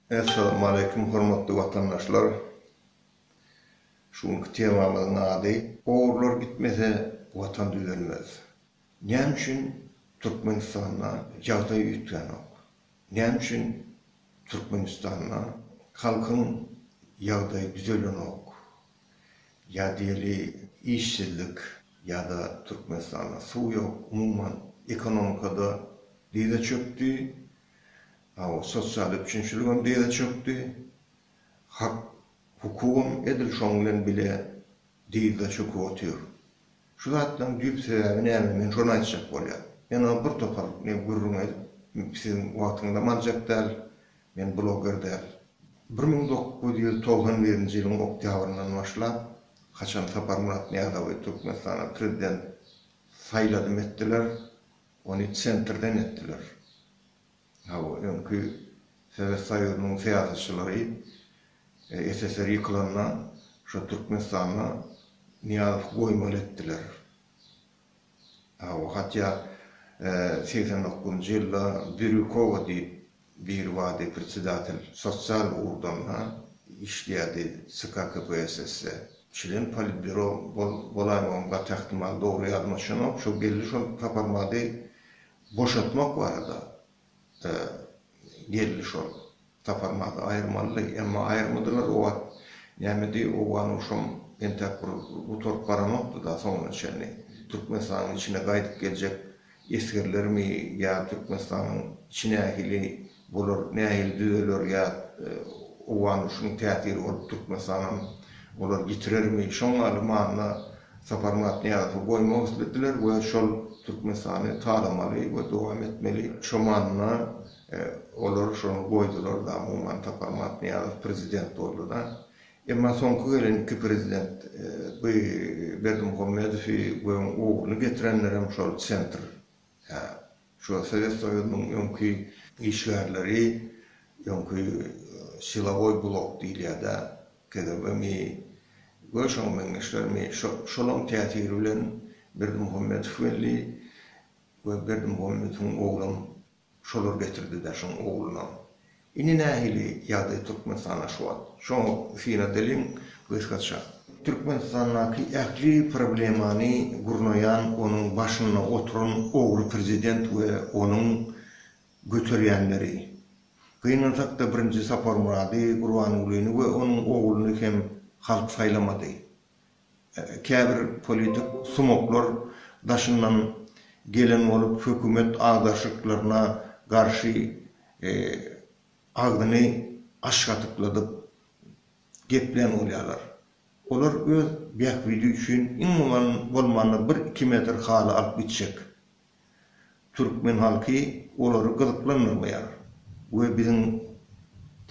Essalamualeýkum hormatly watandaşlar! Şu günki temamyzyň ady, Ogrular gitmese watan düzelmez. Näme üçin Türkmenistanda ýagdaý üýtgänok? Näme üçin Türkmenistanda halkyň ýagdaýy düzelenok? ýa diýeli işsizlik ýa-da Türkmenistanda suw ýok, umuman ekonomikada dyza çökdi. Hawa, sosial üpjünçiligem dyza çökdi. Hak, hukugam edil şoň bilen bile dyza çöküp otyr. Şu zatlaryň düýp sebäbi näme? Men şony aýtjak bolýan. Men oňa bir topar gürrüň edip, siziň wagtyňyzam aljak däl. Men blogger däl. Bir müň dokuz ýüz togsan birinji ýylyň oktýabryndan başlap, haçan Saparmyrat Nyýazowy Türkmenistana prezident saýladym etdiler, ony Sentrden etdiler. Hawa, öňki Sowet Soýuzynyň syýasatçylary SSR ýykylanda, şo Türkmenistanda Nyýazow goýmaly etdiler. Hawa, hatýa segsen dokuzynjy ýylda Birýukowa diýip biri bardy, predsedatel, sosial ugurdan işleýärdi CK KPSS-de. Çlen politbýuro bolaýmagam gaty ähtimal, dogry ýadyma düşenok. Şo geldi şol Saparmady boşatmak barada. da geldi şol. Taparmady, aýyrmalydy. Emma aýyrmadylar o wagt. Nämedi, owgan urşam entäk bir gutaryp baranokdy-da soňuna çenli. Türkmenistanyň içine gaýdyp geljek esgerlermi ýa Türkmenistanyň içi nähili bolar, nähili düzeler ýa owgan urşunyň täsiri bolup Türkmenistanam olar ýitirermi, şoň ýaly manyda Saparmyrat Nyýazowy goýmak islediler we şol Türkmenistany talamaly we dowam etmeli. Şo manyda olar şony goýdular-da, umuman Saparmyrat Nyýazow prezident boldy-da. Emma soňky gelen iki prezident, bu Berdimuhamedowy we oň ogluny getirenlerem şol sentr, hä, Şu Sowet Soýuzynyň öňki işgärleri, öňki silowoý blok diýilýär-dä, KGB-mi, goýşoň meňzeşlermi, şo-şolaň täsiri bilen Berdimuhamedow geldi we Berdimuhamedowyň oglam şolar getirdi-dä, şoň oglunam. Indi nähili ýagdaý Türkmenistanda şu wagt? Şoňa synag edeliň gysgaça. Türkmenistandaky ähli problemany gurnaýan onuň başynda oturan ogry prezident we onuň göterýänleri. Gynansak-da birinji Saparmurady Gurbangulyny we onuň ogluny hem halk saýlamady. Käbir politik sumoklar daşyndan gelen bolup, hökümet agdarşyklaryna garşy agzyny aşgatykladyp geplän bolýarlar. Olar öz bähbidi üçin iň bolmanda bir-iki metr haly alyp gitjek. Türkmen halky olary gyzyklandyrmaýar we biziň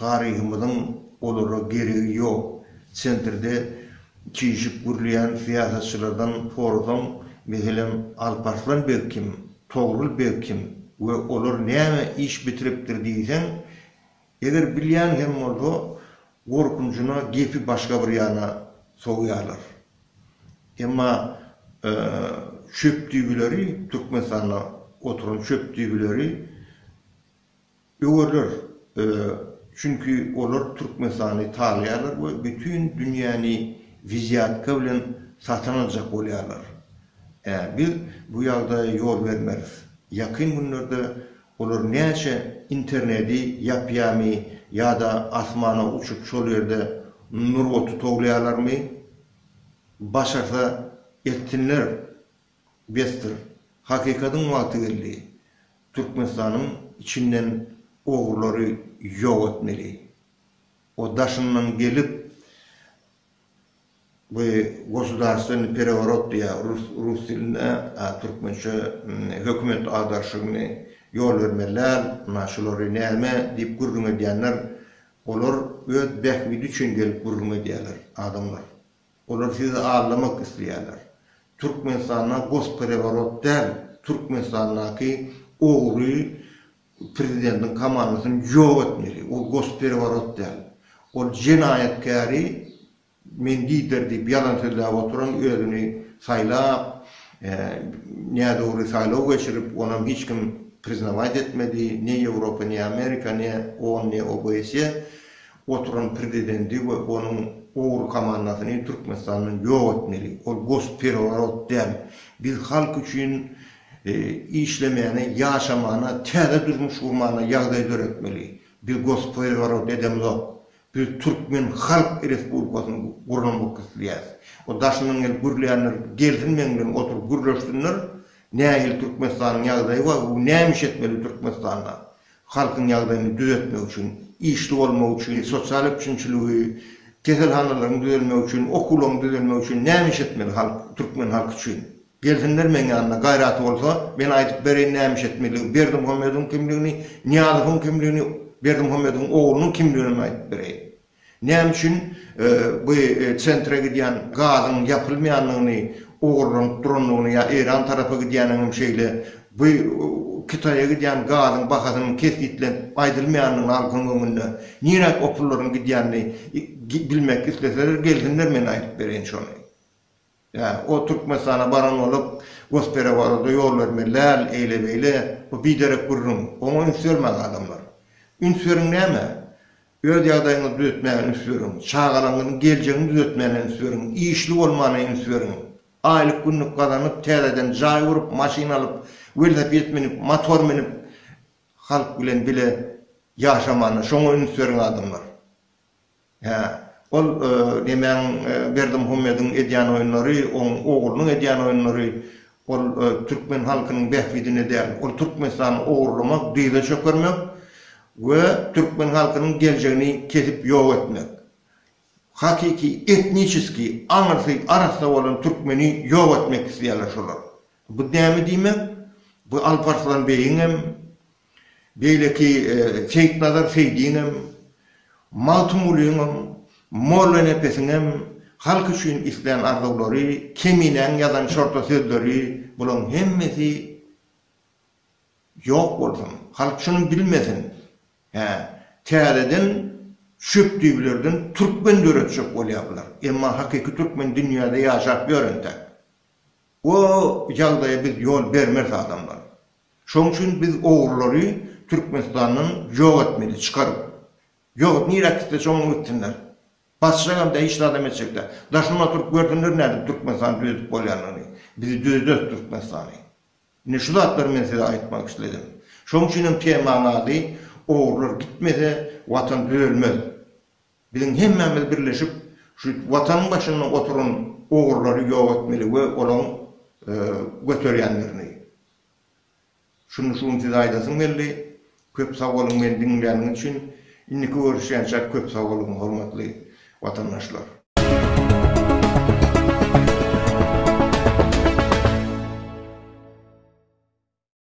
taryhymyzyň olara geregi ýok. Çentirde çişip gürleýän syýasatçylardan sorasaň, meselem, Alparslan beg kim, Togrul beg kim we olar näme iş bitiripdir diýseň, Eger bilýän hem bolsa, gorkunjyna gepi başga bir ýana sogýarlar. Emma çöp düýbüleri, Türkmenistanda oturan çöp düýbüleri öwerler. Çünki olar Türkmenistany talaýarlar we bütin dünýäni wizýatka bilen satyn aljak bolýarlar. Biz bu ýagdaýa ýol bermeris. Ýakyn günlerde Olar näçe internedi ýapýamy ýa-da asmana uçup şol ýerde nur oty towlaýalarmy? Başarsa etsinler besdir. Hakykatyň wagty geldi. Türkmenistanyň içinden ogrulary ýok etmeli. O daşyndan gelip. Bu gosudarstwennii pereworot diýýär rus rus dilinde, a türkmençe hökümet agarşygyny ýol bermeliler, na şulary näme diýip gürrüň edýänler, olar öz bähbidi üçin gelip gürrüň edýärler adamlar. Olar sizi aldamak isleýärler. Türkmenistanda gospereworot däl, Türkmenistandaky ogry Prezidentiň komandasyny ýok etmeli. Ol gospereworot däl. Ol jenaýatkäri men lider diýip ýalan sözläp oturan özüni saýlap, nädogry saýlaw geçirip, onam hiç kim priznawaýt etmedi, ne Ýewropa, ne Amerika, ne on, ne OBSE oturan prezidenti we onuň ogry komandasyny Türkmenistandan ýok etmeli. Ol gospereworot däl. Biz halk üçin işlemäne, ýaşamana, täze durmuş gurmana ýagdaý döretmeli. Biz gospoworoot edemzok. Biz Türkmen Halk Respublikasyny gurnamak isleýäs. O daşyndan gelip gürleýänler gelsin meň bilen oturyp gürleşsinler. Nähili Türkmenistanyň ýagdaýy bar we näme iş etmeli Türkmenistanda? halkyň ýagdaýyny düzetmek üçin, işli bolmak üçin, sosial üpjünçiligi, keselhanalaryň düzelmegi üçin, okuwlaryň düzelmegi üçin näme iş etmeli halk, türkmen halky üçin? Gelsinler meň ýanyma, gaýraty bolsa, men aýdyp bereýin näme iş etmelidigi, Berdimuhamedowyň kimligini, Nyýazowyň kimligini, Berdimuhamedowyň oglunyň kimliginem aýdyp bereýin. Näme üçin bu Sentra gidýän gazyň ýapylmaýandygyny, ogurlanyp durandygyny ýa Eýran tarapa gidýäniniňem şeýle bu Kitaýa gidýän gazyň bahasynyň kesgitlenip aýdylmaýandygyny halkyň öňünde niräk o pullaryň gidýänini bilmek isleseler gelsinler men aýdyp bereýin şony. Ýa, o Türkmenistana baran bolup, Gosperewododa ýol bermeli däl, eýle-beýle, bu biderek gürrüň. Oňa üns bermäň, adamlar. Üns beriň näme? Öz ýagdaýyňyzy düzetmäge üns beriň. Çagalaňyzyň geljegini düzetmäne üns beriň. Işli bolmana üns beriň. Aýlyk-günlük gazanyp, täzeden jaý gurup, maşyn alyp, welosiped münüp, motor münüp, halk bilen bile ýaşamana, şoňa üns beriň, adamlar. Hä, ol nemäň Berdimuhamediň edýän oýunlary, oň oglunyň edýän oýunlary, ol türkmen halkynyň bähbidine däl, ol Türkmenistany ogurlamak, dyza çökermek we türkmen halkynyň geljegini kesip ýok etmek. Hakyky etniçeskiý aňyrsy arassa bolan türkmeni ýok etmek isleýärler şolar. Bu näme diýmek? Bu Alparslan beýiň hem, Beýleki Seýitnazar Seýdiňem, Magtymgulyňam, Mollanepesiňem halk üçin islän arzuwlary, Keminäň ýazan şorta sözleri, bulaň hemmesi ýok bolsun, halk şuny bilmesin. Hä, täzeden şöpdübilerden türkmen döretjek bolýar bular. Emma hakyky türkmen dünýäde ýaşap ýör entek. O ýagdaýa biz ýol bermeris adamlar. Şoň üçin biz ogrulary Türkmenistandan ýok etmeli çykaryp. Ýok nirä gitse şoňa gitsinler. Basjakam däl hiç zadam etjek däl. Daşyna oturyp görsünler nädip Türkmenistany düzedip bolýandygyny. Biz düzederis Türkmenistany. Ine şu zatlary men size aýtmak isledim. Şoň üçinem temaň ady Ogrular gitmese watan düzelmez. Biziň hemmämiz birleşip şu watanyň başynda oturan ogurlary ýok etmeli we olaň göterýänlerini. Şuny şu gün size aýdasym geldi. Köp sag boluň meni diňlýäniňiz üçin. Indiki görüşýänçäk köp sag boluň hormatly watandaşlar.